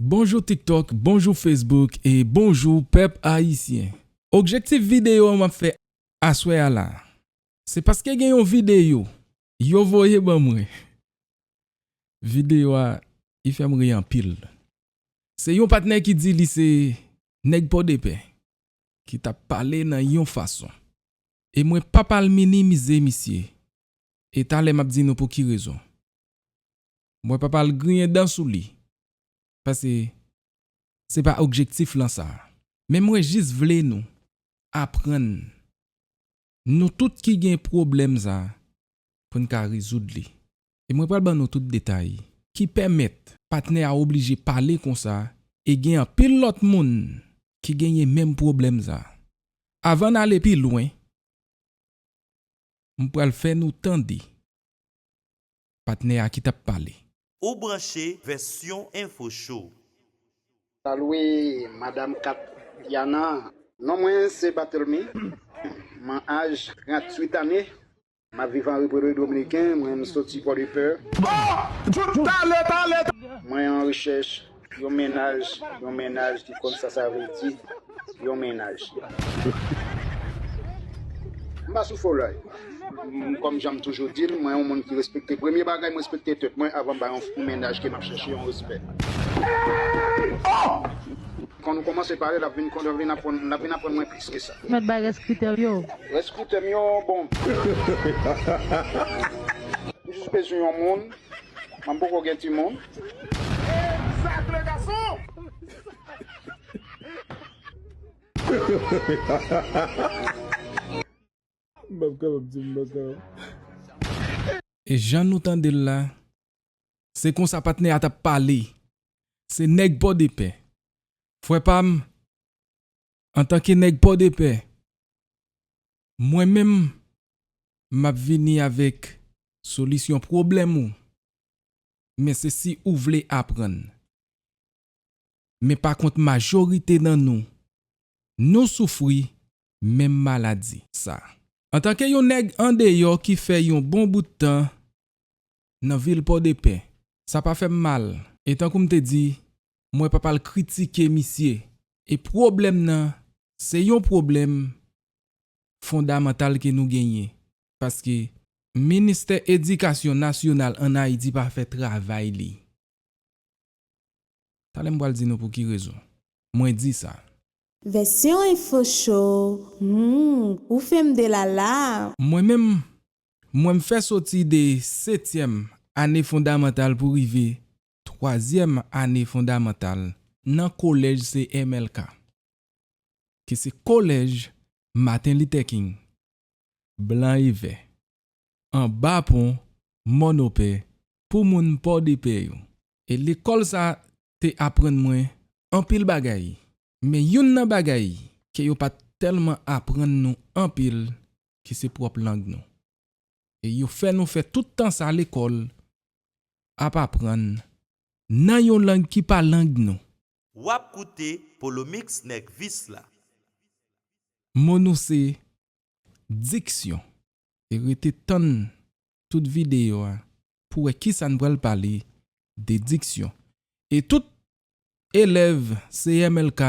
Bonjou tiktok, bonjou facebook e bonjou pèp ayisyen. Objektif videyo map fè aswè a la, se paske gen yon videyo yo voye ban mwen, videyo a i fèm ri anpil. Se yon patnè ki di li se nèg pòdepè, ki tap pale nan yon fason. E mwen pap al minimize misye. E talè map di nou pou ki rezon. Mwen pap al griyen dan sou li. Pase se pa objektif lan sa. Men mwen jis vle nou aprann Nou tout ki gen pwoblèm sa a pou n ka rezoud li. E mwen pral ban nou tout detay ki pèmèt patnè a oblije pale konsa e gen anpil lòt moun ki genyen menm pwoblèm sa a. Avan n ale pi lwen, m pral fè nou tande. Patnè a ki tap pale. Ou branche vèsyon info show. Salué madame Katiana. Non mwen se Barthelmy m'en aj 38 ane map viv an repere dominiken mwen m'soti port de paix. Bon! Tout talè talè! Mwen an rechèch Yon mennaj yon mennaj ki konn sa sa vle di yon mennaj. M pa sou fo lay. Kòm jan m toujou di l, mwen yon moun ki respekte. Premye bagay m respekte tèt mwen avan m ba yon mennaj ke m ap chèche yon respè. Kan nou kòmanse pale l ap vin konn, l ap vin aprann, l ap vin aprann mwen plis ke sa. M mèt bay rès kritè m yo. Rès kritè m yo bon. M jis bezwen yon moun. M poko gen timoun. Exact les garçons! E jan nou tande l la, se konsa patnè a t ap pale. Se nèg Pòdepè. Frè pa m, antanke nèg Pòdepè, mwen menm, m ap vini avèk solisyon pwoblèm ou. men se si ou vle aprann. Men pa kont majorite nan nou, nou soufri menm maladi. Sa. Antanke yon nèg andeyò ki fè yon bon bout tan nan vil Pòdepè, sa pa fè m mal. E tankou m te di, mwen p ap al kritike misye. E pwoblèm nan se yon pwoblèm fondamantal ke nou genyen. paske ministè edikasyon nasyonal an Ayiti pa fè travay li. Talè m pral di nou pou ki rezon mwen di sa. Vèsyon info show humm ou fèm de la la. Mwen menm, mwen m fè soti de setyèm ane fondamantal pou rive twazyèm ane fondamantal nan kolèj CMLK. ke se kolèj Maten Litè King, Blan e Vè, anba pon Mònopè pou moun Pòdepè yo. E lekòl sa te aprann mwen anpil bagay, men youn nan bagay ke yo pa t tèlman aprann nou anpil ke se pwòp lang nou. E yo fè nou fè tout tan sa lekòl ap aprann nan yon lang ki pa lang nou. Wap koute polomix nèg vis la. Mo nou se diksyon. E rete tann tout videyo a pou wè kisa n pral pale de diksyon. E tout elèv CMLK,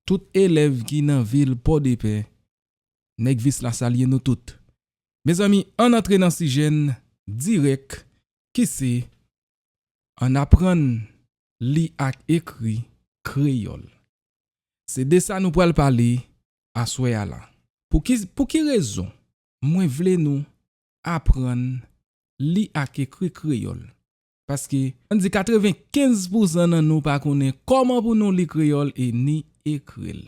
tout elèv ki nan vil Pòdepè, Nèg Vis la salye nou tout. Mezanmi, ann antre nan sijè n dirèk ki se Ann aprann li ak ekri kreyòl. Se de sa nou pral pale aswè a la. Pou ki rezon mwen vle nou aprann li ak ekri kreyòl? Paske, ann di 95 pousan nan nou pa konnen kòman pou nou li kreyòl e ni ekri l.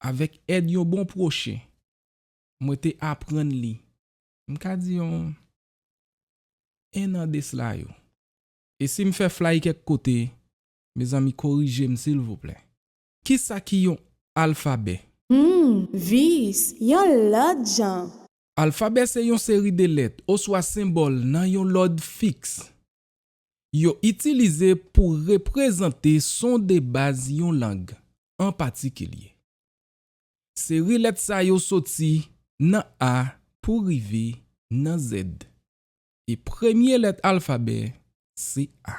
Avèk èd yon bon pwochen, mwen te aprann li, m ka di yon 1 an desla yo. E sim fè flay kèk kote mezanmi korijem silvouplè. Kisa ki yon alfabè? Humm vice yon lòt jan. Alfabè se yon seri de lèt oswa senbòl nan yon lòd fiks. Yo itilize pou reprezante son debaz yon lang an patikilye. Seri lèt sa yo soti nan A pou rive nan Z. E premye lèt alfabè se A.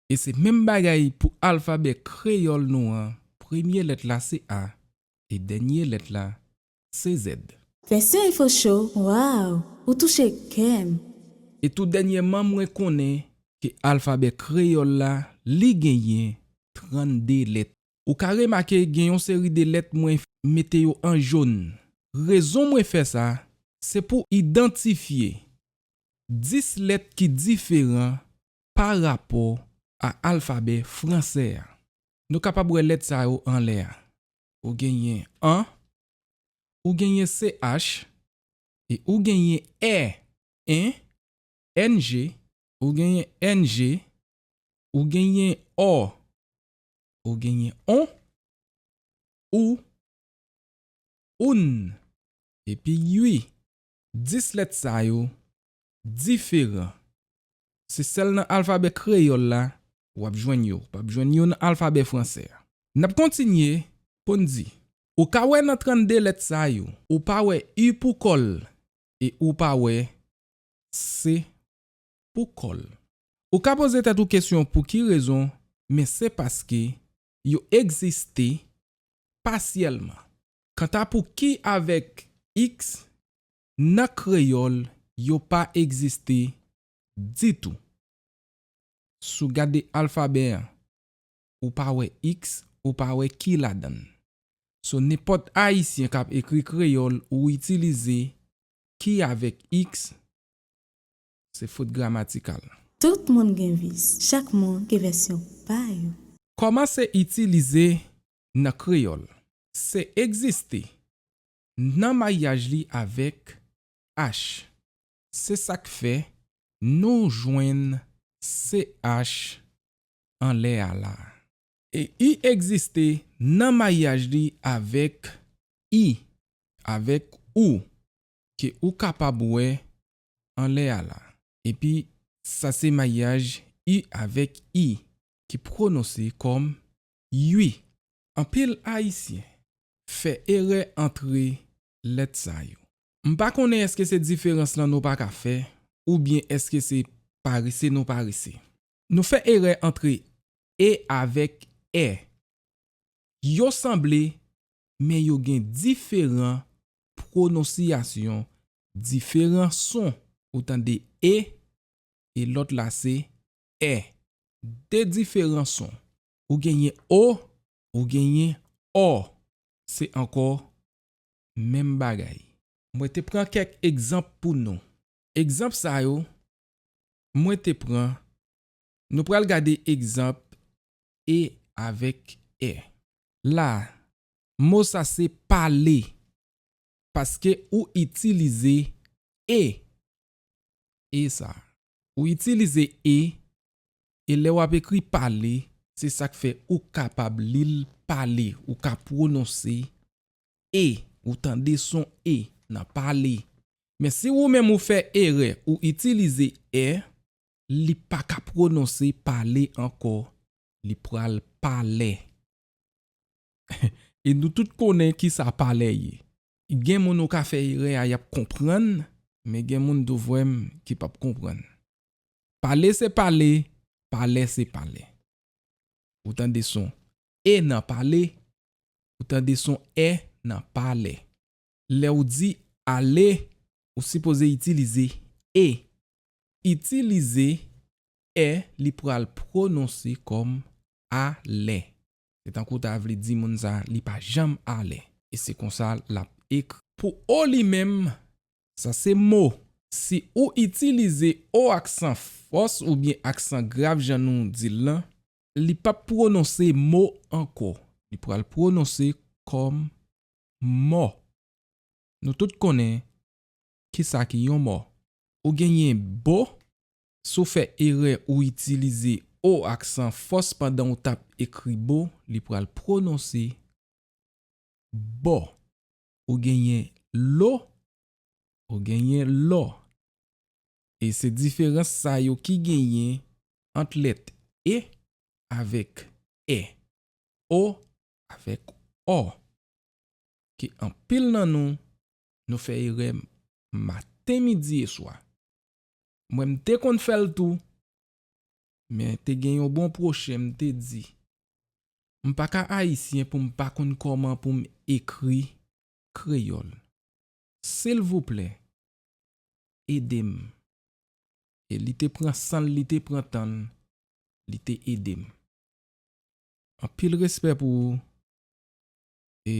E se menm bagay pou alfabè kreyòl nou an, premye lèt la se A e dènye lèt la se Z. Vèsyon Info Show, Waww! Ou touche kè m! E tou dènyèman mwen konnen ke alfabè kreyòl la li genyen 32 lèt. Ou ka remake gen yon seri de lèt mwen mete yo an jòn. Rezon mwen fè sa, se pou idantifye 10 lèt ki diferan pa rapò a alfabè fransè a. Nou kapab wè lèt sa yo anlè a. Ou genyen an, ou genyen ch, e ou genyen è, en, eng, ou genyen ennje, ou genyen ò, ou genyen on, ou, oun, epi ui. Dis lèt sa yo diferan. Se sèl nan alfabè kreyòl la w ap jwenn yo. Ou p ap jwenn yo nan alfabè fransè a. N ap kontinye pou n di, ou ka wè nan 32 lèt sa yo, ou pa wè u pou kò l e ou pa wè se pou kò l. Ou ka poze tèt ou kesyon pou ki rezon, men se paske yo egziste pasyèlman. Kanta pou ki avèk x, nan kreyòl yo pa egziste ditou. Si w gade alfabè an, ou pa wè x, ou pa wè ki ladan l. So nenpòt Ayisyen k ap ekri kreyòl ou itilize ki avèk x Se fot gramatikal. Tout moun gen vis. Chak moun gen vèsyon pa yo. Kòmanse itilize nan kreyòl. Se egziste, nan maryaj li avèk ach. Se sa k fè nou jwenn CH anlè a la a. E i egziste nan maryaj li avèk i, avèk ou, ke ou kapab wè anlè a la. Epi sa se mayaj u avèk i ki pwononse kòm ui. Anpil Ayisyen fè erè antre lèt sa yo. M pa konnen èske se diferans lan nou pa ka fè oubyen èske se parese nou parese. Nou fè erè antre e avèk è. Yo sanble, men yo gen diferan pwononsiyasyon, diferan son. Ou tande e e lòt la se è. De diferan son. Ou genyen o, ou genyen ò. Se ankò menm bagay. Mwen te pran kèk egzanp pou nou. Egzanp sa yo, mwen te pran Nou pral gade egzanp e avèk è. La, mo sa se pale paske ou itilize e. E sa. Ou itilize e, e lè w ap ekri pale, se sa k fè ou kapab li l pale, ou ka pwononse e, ou tande son e nan pale. Men si ou menm ou fè erè ou itilize è, Li pa ka pwononse pale ankò, li pral palè. E nou tout konnen ki sa palè ye. Gen moun ou ka fè erè a y ap konprann, men gen moun tou frè m ki p ap konprann. Pale se pale, palè se palè. Ou tande son e nan pale, ou tande son è nan palè. Lè ou di ale, ou sipoze itilize e Itilize è li pral pwononse kòm a lè. Se tankou w ta vle di moun sa a li pa janm alè. E se konsa l ap ekri. Pou o li menm, sa se mo. Si ou itilize o aksan fòs oubyen aksan grav jan nou di l lan. Li p ap pwononse mo ankò. Li pral pwononse kòm mò. Nou tout konnen Kisa ki yon mo? Ou genyen bo si w fè erè ou itilize o aksan fòs pandan ou t ap ekri bo li pral pwononse bo. Ou genyen lo ou genyen lò e se diferans sa yo ki genyen ant lèt e avèk è, o avèk ò ke anpil nan nou Nou fè erè maten midi e swa. Mwen m te konn fè l tou. Men te gen yon bon pwochen m te di. M pa ka ayisyen pou m pa konn kòman pou m ekri kreyòl. Silvouplè ede m. E li te pran san l li te pran tan l li te ede m. Anpil respè pou ou e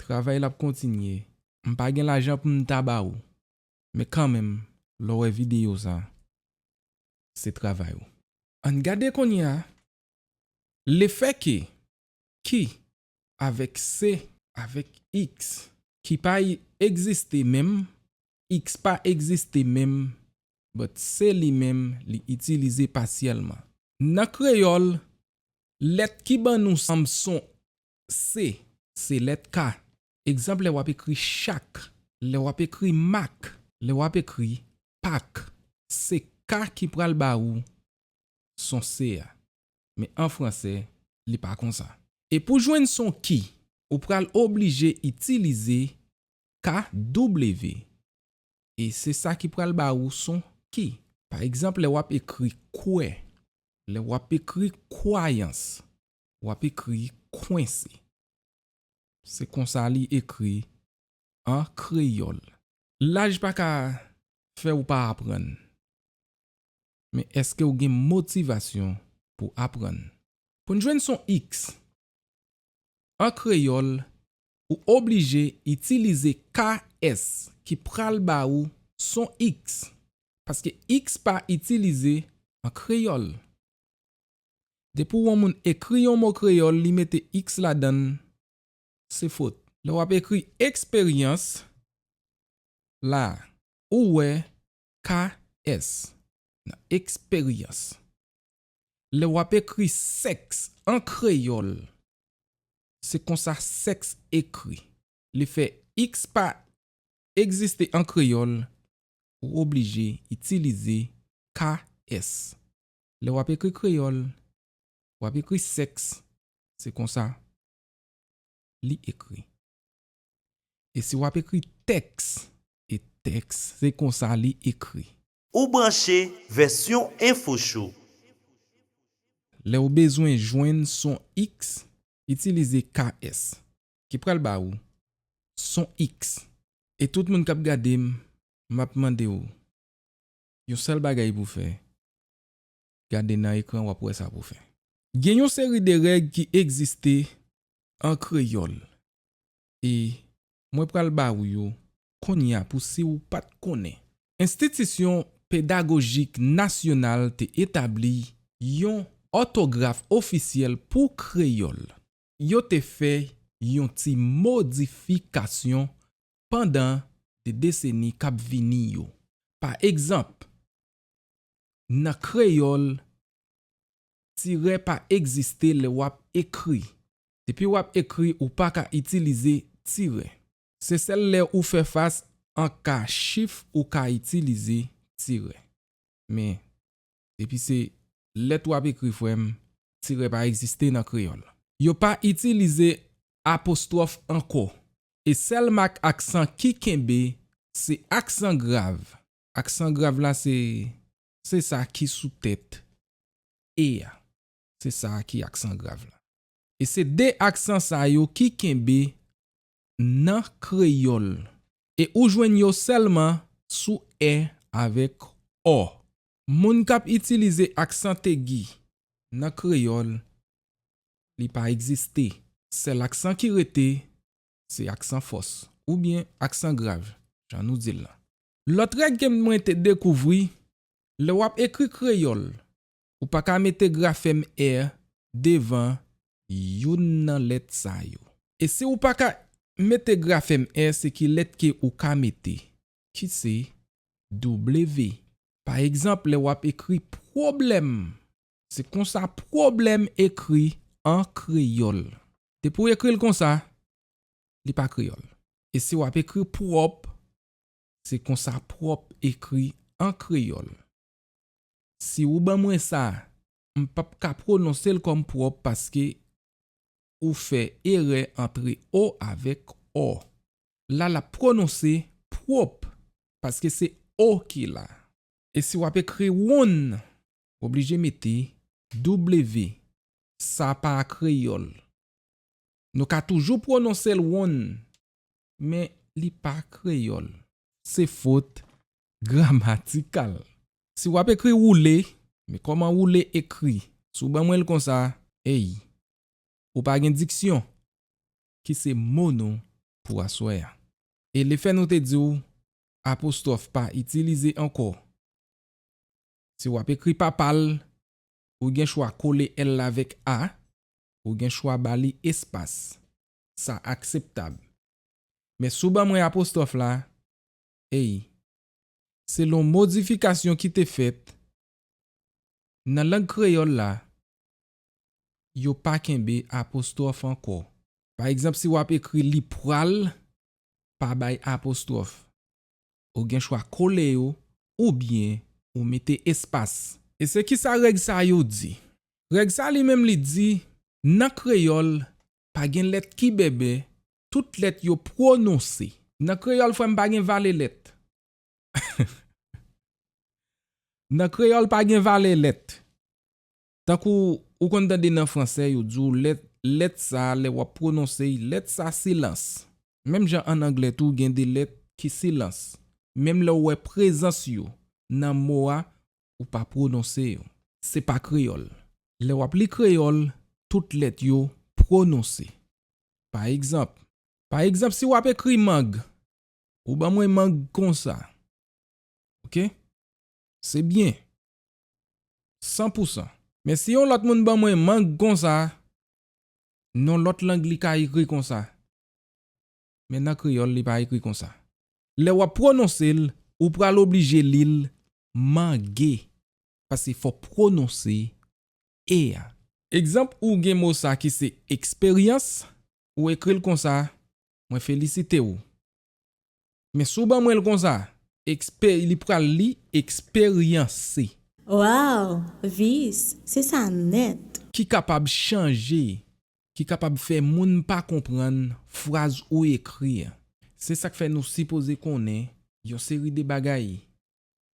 Travay la ap kontinye. M pa gen lajan pou m ta ba ou. Men kanmenm, lè w wè videyo sa, se travay ou. Ann gade kounye a, lefè ke, ki, avèk se, avèk iks, ki pa egziste menm, iks pa egziste menm, but se li menm li itilize pasyèlman. Nan kreyòl, lèt ki ban nou sam son C, Se lèt K. Egzanp, Lè w ap ekri chak. Lè w ap ekri mak. Lè w ap ekri pak. Se K ki pral ba ou son C a. Men an franse, li pa konsa. E pou jwenn son ki, ou pral oblije itilize KW. E se sa ki pral ba ou son ki. Pa egzanp, lè w ap ekri kwè. Lè w ap ekri kwayans. w ap ekri kwense. Se konsa li ekri an kreyòl. Laj pa ka fè ou pa aprann. Men èske ou gen motivasyon pou aprann? Pou n jwenn son x an kreyòl, ou oblije itilize KS ki pral ba ou son x, paske x pa itilize an kreyòl. Depi w on moun ekri yon mo kreyòl li mete iks ladan l se fot. Lè w ap ekri eksperyans la a ou wè KS nan eksperyans. Lè w ap ekri sèks an kreyòl se konsa sèks ekri. Le fè iks pa egziste an kreyòl ou oblije itilize KS. Lè w ap ekri kreyòl, w ap ekri sèks, se konsa li ekri. E si w ap ekri tèks, e tèks, se konsa li ekri. Ou branche Vèsyon Enfo Show! Lè w bezwen jwenn son X, itilize KS, ki pral ba ou son X. E tout moun k ap gade m, m ap mande w, Yon sèl bagay pou fè, gade nan ekran wap wè sa pou fè. Gen yon seri de règ ki egziste an kreyòl e mwen pral ba ou yo kounye a pou si ou pat konnen. Enstitisyon Pedagojik Nasyonal te etabli yon òtograf ofisyèl pou kreyòl. Yo te fè yon ti modifikasyon pandan de deseni k ap vini yo. Pa egzanp, nan kreyòl, tirè pa egziste lè w ap ekri. Depi w ap ekri ou pa ka itilize tirè. Se sèl lè ou fè fas an ka chif ou ka itilize tirè. Men, Depi se lèt w ap ekri frè m, tirè pa egziste nan kreyòl. Yo pa itilize apostwòf ankò e sèl mak aksan ki kenbe se aksan grav. Aksan grav la se se sa ki sou tèt e a. Se sa a ki aksan grav la. E se de aksan sa yo ki kenbe nan kreyòl e ou jwenn yo sèlman sou è avèk ò. Moun k ap itilize aksantegi nan kreyòl, li pa egziste. Sèl aksan ki rete, se aksan fòs oubyen aksan grav, jan nou di l lan. Lòt règ ke mwen te dekouvri, lè w ap ekri kreyòl Ou pa ka mete grafèm er devan youn nan lèt sa yo. E si ou pa ka mete grafèm er se ki lèt ke ou ka mete? Ki se W. Pa egzanp lè wap ekri pwoblèm. Se konsa pwoblèm ekri an kreyòl. Depi ou ekri l konsa, li pa kreyòl. E si wap ekri pwòp, se konsa pwòp ekri an kreyòl. Si ou ban mwen sa, m p ap ka pwononse l kòm pwòp paske ou fè erè antre o avèk ò. La l ap pwononse pwop paske se o ki la. E si w ap ekri wonn, w oblije mete W. Sa pa kreyòl. Nou ka toujou pwononse l wonn men li pa kreyòl. Se fot gramatikal. Si w ap ekri woule, men kòman woule ekri? Si w ban mwen l konsa, ey! Ou pa gen diksyon! Ki se mo nou pou aswè a. E lefè nou te di w apostwòf pa itilize ankò. Si w ap ekri papa l, ou gen chwa kole l avèk a, ou gen chwa ba li espas. sa akseptab. Men si w ban mwen apostwòf la, ei, selon modifikasyon ki te fèt nan lang kreyòl la, yo pa kenbe apostwòf ankò. Pa egzanp, si w ap ekri li pral, pa bay apostwòf. Ou gen chwa kole yo oubyen ou mete espas. E se ki sa règ sa yo di? Règ sa li menm li di, nan kreyòl, Pa gen lèt ki bèbè, tout lèt yo pwononse. Nan kreyòl frè m pa gen vale lèt. Nan kreyòl pa gen vale lèt. Tankou ou konn tande nan fransè yo di w lèt, lèt sa lè w ap pwononse y, lèt sa silans. Menm jan an anglè tou gen de lèt ki silans. Menm lè w wè prezans yo nan mo a ou pa pwononse yo. Se pa kreyòl. Lè w ap li kreyòl, tout lèt yo pwononse. Pa egzanp. Pa egzanp si w ap ekri mang, ou ban mwen mang konsa. Ok. Se byen. San pou san. Men si yon lòt moun ban mwen mang konsa, non lòt lang li ka ekri konsa. men nan kreyòl li pa ekri konsa. Lè w ap pwononse l, ou pral oblije li l mange paske fò w pwononse e a. Egzanp ou gen mo sa ki se eksperyans, ou ekri l konsa, mwen felisite w. Men si w ban mwen l konsa, ekspe li pral li eksperyanse. Waww Vice, se sa nèt! Ki kapab chanje ki kapab fè moun pa konprann fraz ou ekri an. Se sa k fè nou sipoze konnen yon seri de bagay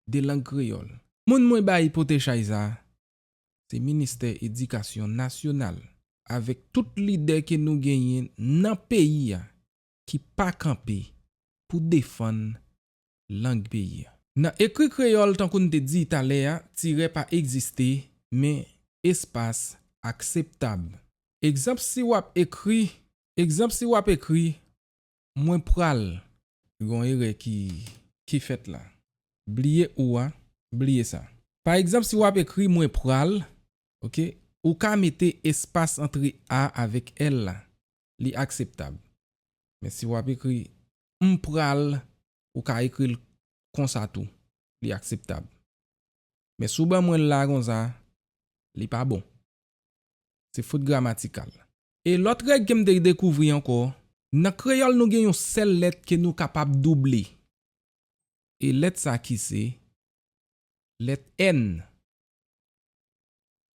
de lang kreyòl. Moun mwen bay pote chay sa a, se Ministè Edikasyon Nasyonal avèk tout lidè ke nou genyen nan peyi a ki pa kanpe pou defann lang peyi a. Nan ekri kreyòl tankou n te di talè a tirè pa egziste men espas akseptab. Egzanp si w ap ekri Egzanp si w ap ekri Mwen pral. Gon erè ki ki fèt la. Bliye ou a, bliye sa. Pa egzanp si w ap ekri Mwen pral ok ou ka mete espas antre a avèk l la li akseptab men si w ap ekri M pral Ou ka ekri l konsa tou Li akseptab Men si w ban mwen l la konsa Li pa bon Se fot gramatikal E lòt règ ke m te dekouvri ankò Nan kreyòl nou gen yon sèl lèt ke nou kapab double E lèt sa ki se lèt n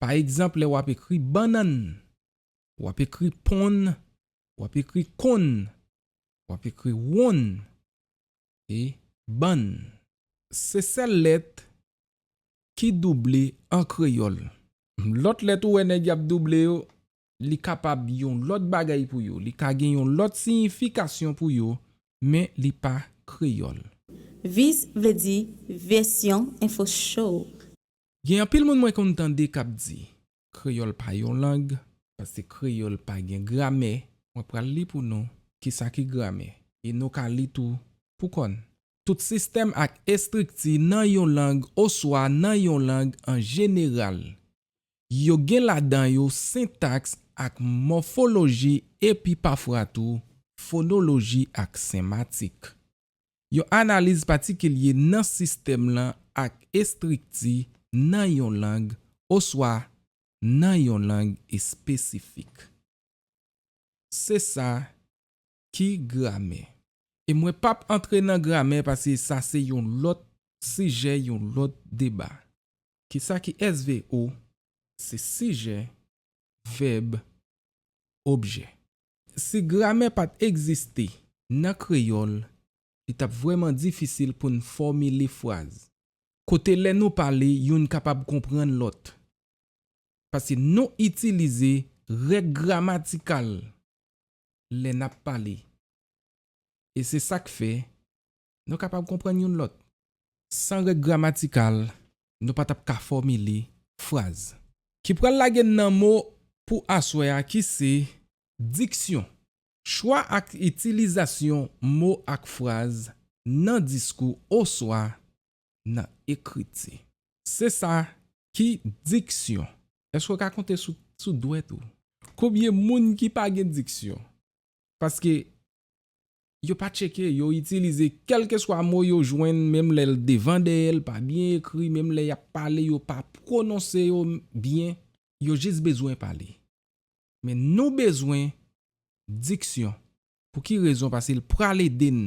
Pa egzanp lè w ap ekri bannann W ap ekri ponn W ap ekri konn W ap ekri wonn e bann Se sèl lèt ki double an kreyòl. Lòt lèt ou wè nèg y ap double yo, li kapab yon lòt bagay pou yo, li ka gen yon lòt siyifikasyon pou yo, men li pa kreyòl. Viz vle di Version Info Show. Gen anpil moun mwen konn tande k ap di, Kreyòl pa yon lang, paske kreyòl pa gen gramè. Mwen pral li pou nou ki sa ki gramè, e nou ka li tou pou kò n. Tout sistèm ak estrikti nan yon lang oswa nan yon lang an jeneral. Yo gen ladan yo sentaks ak mòfoloji epi pafwa tou fonoloji ak sematik. Yon analiz patikilye nan sistèm lan ak estrikti nan yon lang oswa nan yon lang espesifik. Se sa ki gramè. E mwen p ap antre nan gramè pase sa se yon lòt sijè, yon lòt deba. Ki sa ki SVO? Se sijè vèb, objè. Si gramè pa t egziste nan kreyòl, li t ap vrèman difisil pou n fòmile fraz, kote lè nou pale youn kapab konprann lòt, paske nou itilize règ gramatikal lè n ap pale. E se sa k fè, nou kapab konprann youn lòt. San règ gramatikal, nou pa t ap ka fòmile fraz. Ki pral lage n nan mo pou aswè a ki se, diksyon, chwa ak itilizasyon mo ak fraz nan diskou oswa nan ekriti. Se sa ki diksyon. Èske w ka konte sou dwèt ou konbyen moun ki pa gen diksyon? Paske Yo pa tcheke, yo itilize kèlkeswa mo yo jwenn menm lè l devan dèyè l pa byen ekri menm lè y ap pale yo pa pwononse yo byen yo jis bezwen pale men nou bezwen diksyon pou ki rezon pase l pral ede n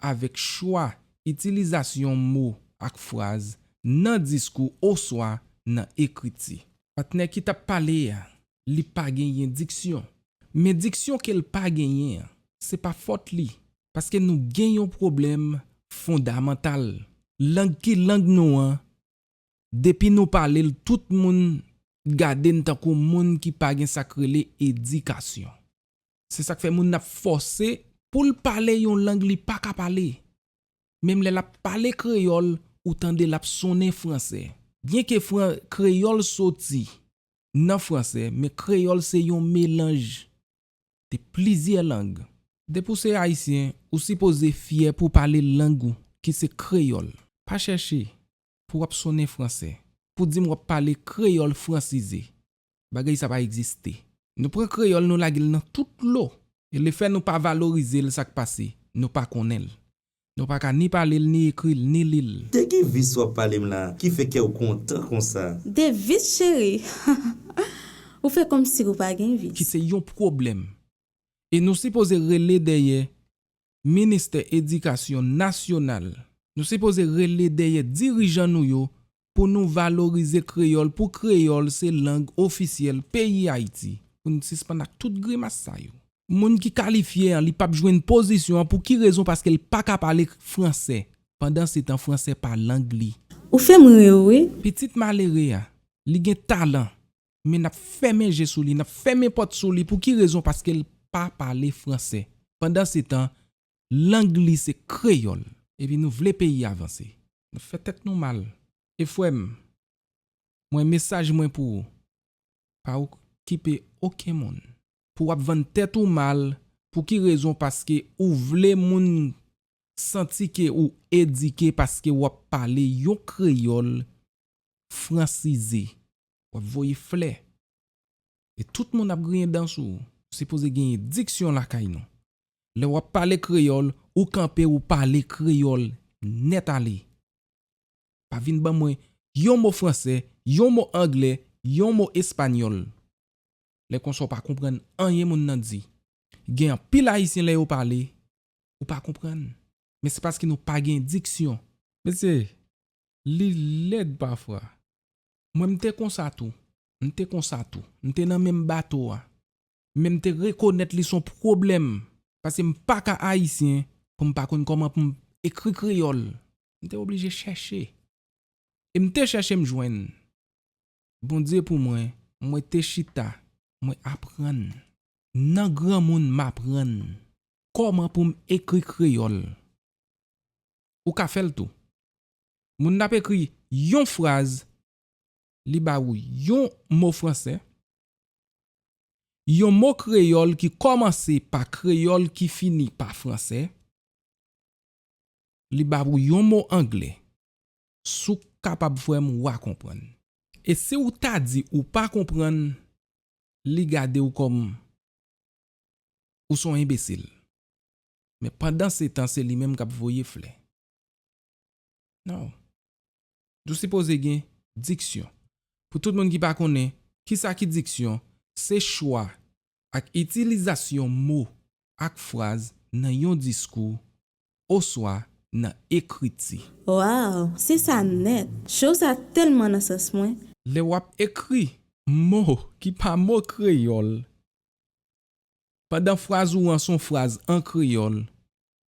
avèk chwa itilizasyon mo ak fraz nan diskou oswa nan ekriti. Patnè ki t ap pale a li pa genyen diksyon. Men diksyon ke l pa genyen an, se pa fòt li, paske nou gen yon pwoblèm fondamantal. Lang ki lang nou an, depi nou pale l tout moun gade n tankou moun ki pa gen sa k rele edikasyon. Se sa k fè moun ap fòse pou l pale yon lang li pa ka pale. Menm lè l ap pale kreyòl, ou tande l ap sonnen franse. Byenke kreyòl soti nan franse men kreyòl se yon melanj de plizyè lang. Depi w se Ayisyen, ou sipoze fyè pou w pale lang ou ki se kreyòl. Pa chèche pou w ap sonnen franse, pou di m w ap pale kreyòl fransize. Bagay sa pa egziste. Nou pran kreyòl nou lage l nan tout dlo e lefè nou pa valorize l sa k pase, nou pa konnen l. Nou pa ka ni pale l ni ekri l ni li l. De ki vice wap pale m la ki fè kèw kontan konsa. De vice cheri hahaha ou fè komsi ou pa gen vice. Ki se yon pwoblèm. E nou sipoze rele dèyè ministè edikasyon nasyonal. Nou sipoze rele dèyè dirijan nou yo pou nou valorize kreyòl pou kreyòl se lang ofisyèl peyi Ayiti pou n sispann ak tout grimas sa yo. Moun ki kalifye an li pap jwenn pozisyon an pou ki rezon paske l pa ka pale fransè pandan se tan fransè pa lang li. Ou fem rir wi. Pitit malere a, li gen talan, men nap fèmen je sou li, nap fèmen pòt sou li pou ki rezon paske l pa pale fransè pandan se tan Lang li se kreyòl. Epi nou vle peyi a vanse. Nap fè tèt nou mal. E frèm Mwen mesaj Mwen pou ou pa ok kipe oken moun. Pou wap vann tèt ou mal pou ki rezon paske ou vle moun Santi ke ou edike paske wap pale yon kreyòl fransize wap voye flè e tout moun ap griyen dan sou ou sipoze genyen diksyon lakay nou Lè wap pale kreyòl ou kanpe ou pale kreyòl nèt ale. Pa vin ban mwen yon mo fransè, yon mo anglè, yon mo espanyòl. Lè konsa ou pa konprann anyen moun nan di. Gen anpil ayisyen lè yo pale ou pa konprann. Men se paske nou pa gen diksyon. Mesye, li lèd pafwa. Mwen m te konsa tou. M te konsa tou. M te nan menm bato a. men m te rekonèt li s on pwoblèm paske m pa ka ayisyen pou m pa konn kòman pou m ekri kreyòl. M te oblije chèche. E m te chèche m jwenn. Bondye pou mwen, mwen te chita, mwen aprann. Nan granmoun m aprann kòman pou m ekri kreyòl. Ou ka fè l tou. Moun n ap ekri yon fraz li ba ou yon mo franse, yon mo kreyòl ki kòmanse pa kreyòl ki fini pa franse, li ba ou yon mo angle, si w kapab frè m wa konprann. E si w ta di ou pa konprann li gade w kòm ou son enbesil. Men pandansetan se li menm k ap voye flè. Non. Nou sipoze gen diksyon. Pou tout moun ki pa konnen, kisa ki diksyon, se chwa ak itilizasyon mo ak fraz nan yon diskou oswa nan ekriti. Waww se sa nèt! Show sa tèlman nan sans mwen. Lè w ap ekri mo ki pa mo kreyòl, pandan fraz ou an s on fraz an kreyòl,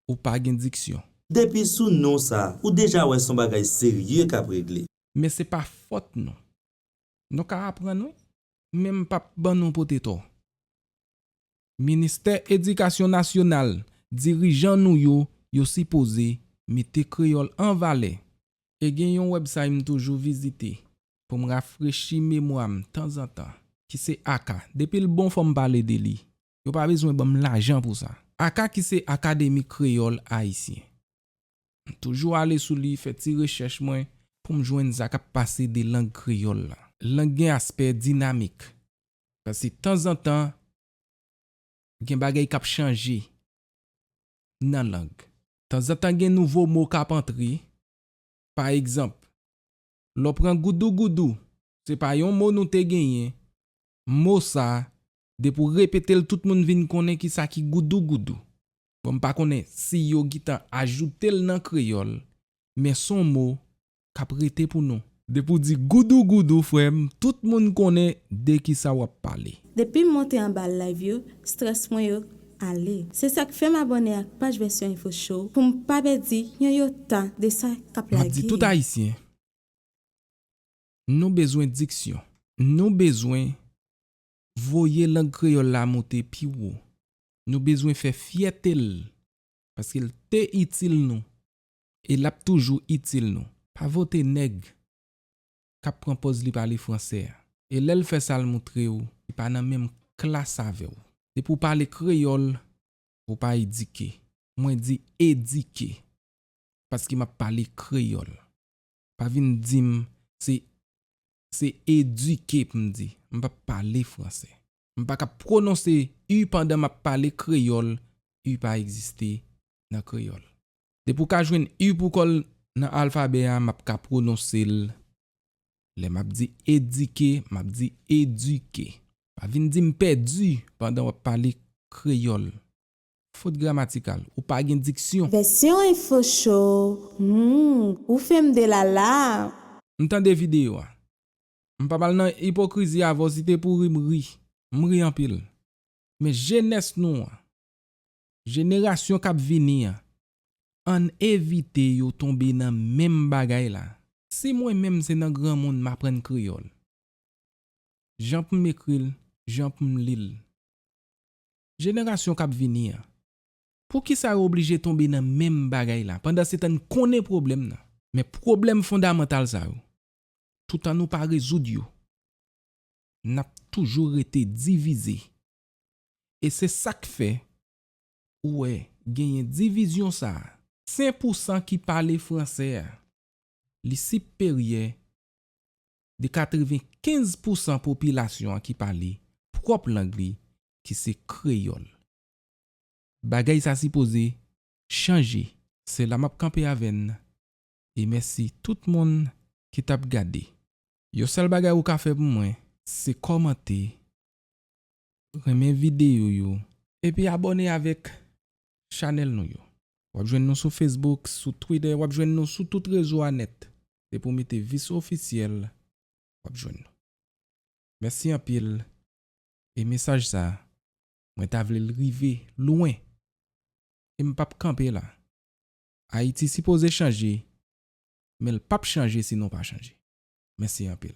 ou pa gen diksyon. Depi sou non sa, ou deja wè son bagay serye kap regle. Men se pa fòt nou. Nou ka aprann wi, men m pap ban nou pote tò. Ministè Edikasyon Nasyonal, dirijan nou yo, yo sipoze mete kreyòl an valè. E gen yon websay m toujou vizite pou m rafrechi memwa m tanzantan ki se aka. Depi l bon fò m pale de li. Yo pa bezwen ban m lajan pou sa. Aka ki se Akademi Kreyòl Ayisyen. M toujou ale sou li, fè ti rechèch mwen pou m jwenn sa k ap pase de lang kreyòl la. Lang gen aspè dinamik. Sa se tanzantan gen bagay k ap chanje nan lang. Tanzantan gen nouvo mo k ap antre. Pa egzanp, lè w pran goudougoudou, se pa yon mo nou te genyen mo sa depi w repete l tout moun vin konnen ki sa ki goudougoudou. Bon m pa konnen si yo gitan ajoute l nan kreyòl men s on mo k ap rete pou nou. Depi w di goudougoudou frè m tout moun konnen de ki sa w ap pale. Depi m monte anba live yo stress mwen yo ale. Se sa k fè m abòne ak paj Version Info Show pou m pa pèdi yon yota de sa k ap M ap di lage tout yo. Ayisyen Nou bezwen diksyon. Nou bezwen voye lang kreyòl la moute pi wo. Nou bezwen fè fyète l paske l te itil nou e l ap toujou itil nou. Pa vote nèg k ap pran pòz li pale fransè a e lè l fè sa l moutre w li pa nan menm klas avè w. Depi w pale kreyòl, ou pa edike. Mwen di edike paske m ap pale kreyòl. Pa vin di m se Se eduke pou m di. M pa p pale franse. M pa kab pwononse u pandan m ap pale kreyòl u pa egziste nan kreyòl. Depi w ka jwenn u pou kò l nan alfabè a m ap ka pwononse l Lè m ap di edike m ap di eduke. Pa vin di m pèdi pandan w ap pale kreyòl. Fot gramatikal, ou pa gen diksyon! Vèsyon info show humm ou fèm delala. M tande video a. M pap al nan ipokrizi avèw si te pou ri m ri. M ri anpil. Men jenès nou an. Jenerasyon kap vini an. Ann evite yo tonbe nan menm bagay la. Si mwen menm se nan granmoun m aprann kreyòl. Jan pou m ekri l, jan pou m li l. Jenerasyon kap vini an. Poukisa yo oblije tonbe nan menm bagay la? Pandansetan n konnen pwoblèm nan. Men pwoblèm fondamantal sa yo. Toutan nou pa rezoud yo. Nap toujou rete divize. E se sak fè ou wè genyen divizyon sa a. Sen pousan ki pale fransè a. Li siperyè de 95 pousan popilasyon an ki pale pwòp lang li ki se kreyòl. Bagay sa sipoze chanje. Se la map kanpe avè n e mèsi tout moun ki tap gade. Yon sèl bagay ou ka fè pou mwen se kòmante Renmen video yo. Epi abone avek Chanel nou yo. Wap jwenn nou sou Facebook, sou Twitter, wap jwenn nou sou tout rezo a net. Depi w mete Vice Officiel wap jwenn nou. Mèsi anpil e mesaj sa mwen ta vle l rive lwen e m pap kanpe la. Ayiti sipoze chanje men l pap chanje si nou pa chanje. Mèsi anpil.